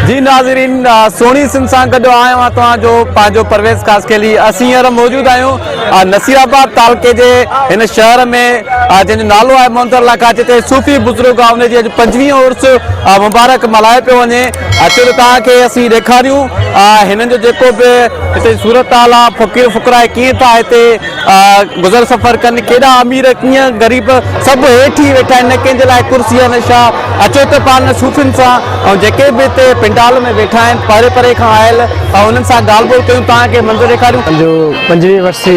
جي ناظرين سهڻي سنڌ سان گڏ آهيان مان توهان جو پنهنجو پرويز خاصخيلي اسين هينئر موجود آهيون نصير آباد تعلقي جي هن شهر ۾ جنهن جو نالو آهي مونتر الله کان جتي صوفي بزرگ آهي ان جي اڄ پنجويهين عرس مبارڪ ملهايو پيو وڃي اچو ته توهان کي اسين ڏيکاريون هنن جو جيڪو به هتي صورتحال آهي فقير فقراء ڪيئن ٿا هتي گذر سفر ڪن ڪيڏا امير ڪيئن غريب سڀ هيٺ ئي ويٺا آهن نه ڪنهن جي لاء ڪرسي ۽ نه شاهه اچو ته پاڻ صوفين سان ۽ جيڪي به هتي پنڊال ۾ ويٺا آهن پري پري کان آيل انهن سان ڳالهه ٻولهه ڪيون توهان کي منظر ڏيکاريون. جو پنجويهه ورسي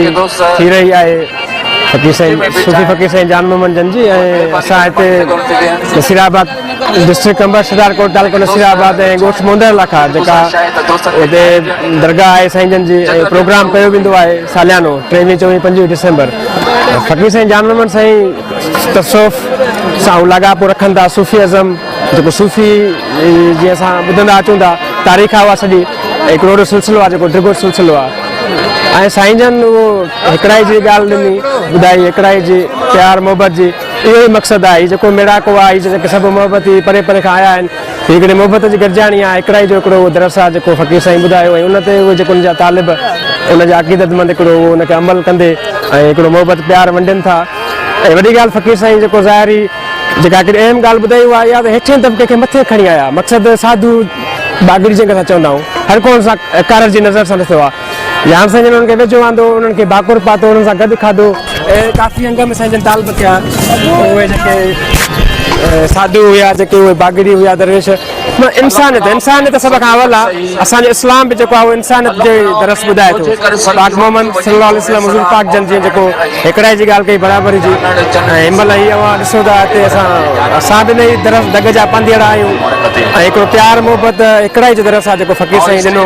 ٿي رهي آهي فقير سائين صوفي فقير سائين جان محمد جن جي ۽ اسان هتي نصير آباد ڊسٽرڪٽ قمبر، شڪارڪوٽ، تعلقو نصير آباد ۽ ڳوٺ موندر لاکا جيڪا هتي درگاهه آهي سائين جن جي ۽ پروگرام ڪيو ويندو آهي ساليانو ٽيويهين چوويهين پنجويهين ڊسمبر فقير سائين جان محمد سائين تصوف سان لاڳاپو رکن ٿا صوفي ازم جيڪو صوفي جي اسان ٻڌندا اچون ٿا تاريخ آهي اها سڄي هڪڙو وڏو سلسلو آهي جيڪو ڊگهو سلسلو آهي ۽ سائين جن اهو هڪڙائي جي ڳالهه ڏني ٻڌائي هڪڙائي جي پيار محبت جي اهو ئي مقصد آهي جيڪو ميڙاڪو آهي جنهن کي سڀ محبتي پري پري کان آيا آهن. هي هڪڙي محبت جي گڏجاڻي آهي، هڪڙائي جو هڪڙو اهو درس آهي جيڪو فقير سائين ٻڌايو ۽ ان تي اهي جيڪو ان جا طالب ان جا عقيدت مند هڪڙو اهو ان کي عمل ڪندي ۽ هڪڙو محبت پيار ونڊين ٿا ۽ وڏي ڳالهه فقير سائين جيڪو ظاهري جيڪا هڪڙي اهم ڳالهه ٻڌائي اها اها ته هيٺين طبقي کي مٿي کڻي آيا مقصد ساڌو باگڙي جنهن کي اسان چوندا آهيون هر ڪو ان سان ڪارج جي نظر سان ڏسندو آهي. يار سائين جن انهن کي ويجهو آندو، انهن کي ڀاڪر پاتو، انهن سان گڏ کاڌو ۽ ڪافي انگ ۾ سائين جن طالب ٿيا. اهي جيڪي ساڌو هيا، جيڪي اهي باگڙي هيا، درويش، مطلب انسانيت، انسانيت سڀ کان اول آ. اسان جو اسلام به جيڪو آ اهو انسانيت جو ئي درس ٻڌائي ٿو. پاڪ محمد صلي الله عليه وسلم حضور پاڪ جن جيئن جيڪو هيڪڙائي جي ڳالهه ڪئي برابري جي ۽ هن مهل هي اوهان ڏسو ٿا هتي اسان اسان به انهي درس دڳ جا پنڌيئڙا آهيون ۽ هيڪڙو پيار محبت هيڪڙائي جو درس آ جيڪو فقير سائين ڏنو.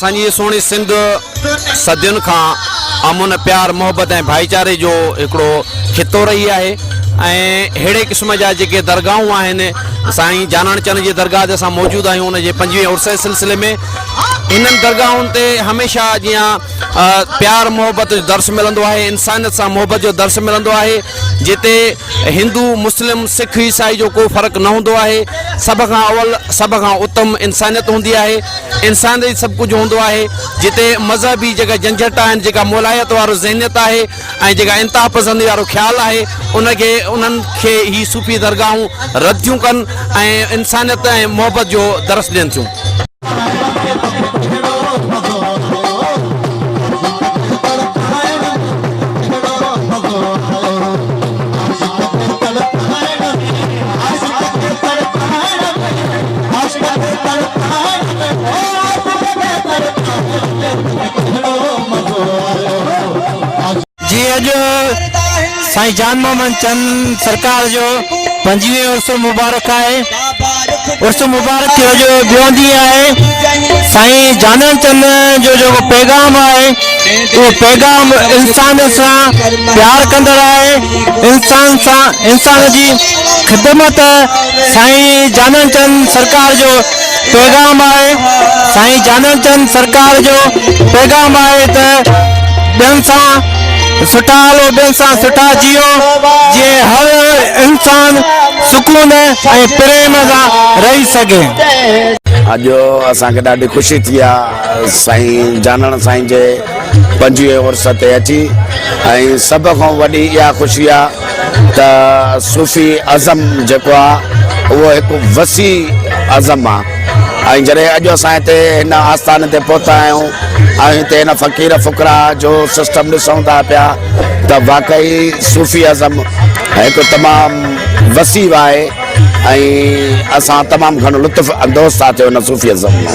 اسان جي هيء سهڻي سنڌ صدين کان امن، پيار، محبت ۽ ڀائيچاري جو هڪڙو خطو رهي آهي ۽ ههڙي قسم جا جيڪي درگاهون آهن، سائين جاناڻ چن جي درگاهه تي اسان موجود آهيون، ان جي پنجويهين عرس جي سلسلي ۾ هنن درگاهن تي هميشه جيان پيار محبت جو درس ملندو آهي، انسانيت سان محبت جو درس ملندو آهي، جتي هندو، مسلم، سک، عيسائي جو ڪو فرق نه هوندو آهي، سڀ کان اول، سڀ کان اتم انسانيت هوندي آهي. انسان ڏي سڀ ڪجهه هوندو آهي جتي مذهبي جيڪا جنجهٽ آهن جيڪا مولائيت وارو ذهنيت آهي ۽ جيڪا انتها پسندي وارو خيال آهي ان کي انهن کي هي صوفي درگاهون رد ٿيون ڪن ۽ انسانيت ۽ محبت جو درس ڏين ٿيون. جي اڄ سائين جان محمد چند سرڪار جو پنجويهون عرس مبارڪ آهي عرس مبارڪ جو جو ٻيو ڏينهن آهي سائين جانن چند جو جو پيغام آهي اهو پيغام انسان سان پيار ڪندڙ آهي انسان سان انسان جي خدمت سائين جانڻ چند سرڪار جو پيغام آهي سائين جانڻ چند سرڪار جو پيغام آهي ته ٻين سان سٺا هلو ٻين سان سٺا جيو جي هر انسان سڪون ۽ پريم سان رهي سگهي اڄ اسان کي ڏاڍي خوشي ٿي آ سائين جانڻ سائين جي پنجويهه عرس تي اچي ۽ سڀ کان وڏي اها خوشي آ ته صوفي ازم جيڪو آ اهو هڪ وسيع ازم آ ۽ جڏهن اڄ اسان هتي هن آستان تي پهتا آهيون ۽ هتي هن فقير فقراء جو سسٽم ڏسون ٿا پيا ته واقعي صوفي ازم هڪ تمام وسيع آهي ۽ اسان تمام گهڻو لطف اندوز ٿا ٿيون هن صوفي ازم مان.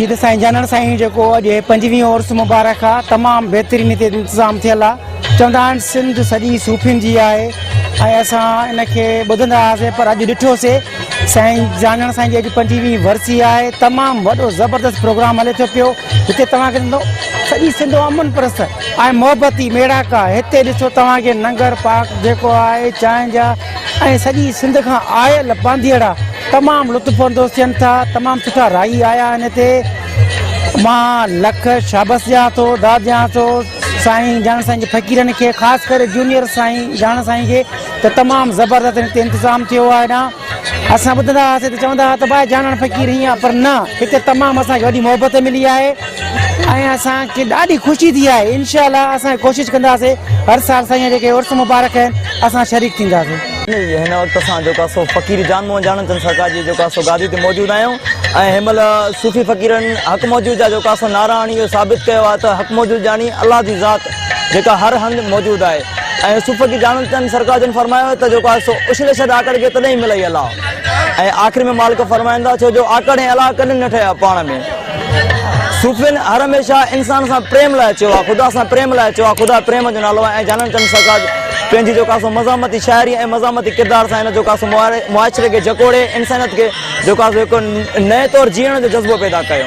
جي ته سائين جانڻ سائين جيڪو اڄ پنجويهين عرس مبارڪ آ تمام بهترين هتي انتظام ٿيل آ چوندا آهن سنڌ سڄي صوفين جي آهي ۽ اسان ان کي ٻڌندا هئاسين پر اڄ ڏٺوسي سائين جانڻ سائين جي اڄ پنجويهين ورسي آهي تمام وڏو زبردست پروگرام هلي ٿو پيو هتي توهان کي سڄي سنڌ امن پرست اي محبتي ميڙاڪا هتي ڏسو توهان کي ننگر پارڪ جيڪو آهي چانهه جا ۽ سڄي سنڌ کان آيل بانديئڙا تمام لطف اندوز ٿين ٿا تمام سٺا رائي آيا آهن هتي مان لک شابس ڏيان ٿو داد ڏيان ٿو سائين جان سائين جي فقيرن کي خاص ڪري جونيئر سائين جان سائين کي ته تمام زبردست هتي انتظام ٿيو آهي نا اسان ٻڌندا هئاسين ته چوندا هئا ته باء جانڻ فقير هيئن آ پر نه هتي تمام اسان کي وڏي محبت ملي آهي ۽ اسان کي ڏاڍي خوشي ٿي آهي انشاء الله اسان ڪوشش ڪنداسي هر سال سائين جيڪي عرس مبارڪ آهن اسان شريڪ ٿينداسي. هن وقت اسان جيڪو آهي سو فقير جان موهن جانڻ چند سرڪار جي جيڪو آهي سو گادي تي موجود آهيون ۽ هن مهل صوفي فقيرن حق موجود جا جيڪو آهي سو نعرا هڻي اهو ثابت ڪيو آهي ته حق موجود جاني الله جي ذات جيڪا هر هنڌ موجود آهي ۽ صوف جي ڄاڻندڙن سرڪار جن فرمايو آهي ته جيڪو آهي سو اڇلي ڇڏ آڪڙ کي تڏهن ئي ملئي الاء ۽ آخر ۾ مالڪ فرمائن ٿا ڇو جو آڪڙ ۽ الاء ڪڏهن نه ٺهيا پاڻ ۾ صوفين هر هميشه انسان سان پريم لاء چيو آهي خدا سان پريم لاء چيو آهي خدا پريم جو نالو آهي ۽ جانن چند سرڪار پنهنجي جيڪو آهي سو مزاحمتي شاعري ۽ مزاحمتي ڪردار سان هن جيڪو آهي سو معاشري کي جڪوڙي انسانيت کي جيڪو آهي سو هڪ نئين طور جيئڻ جو جذبو پيدا ڪيو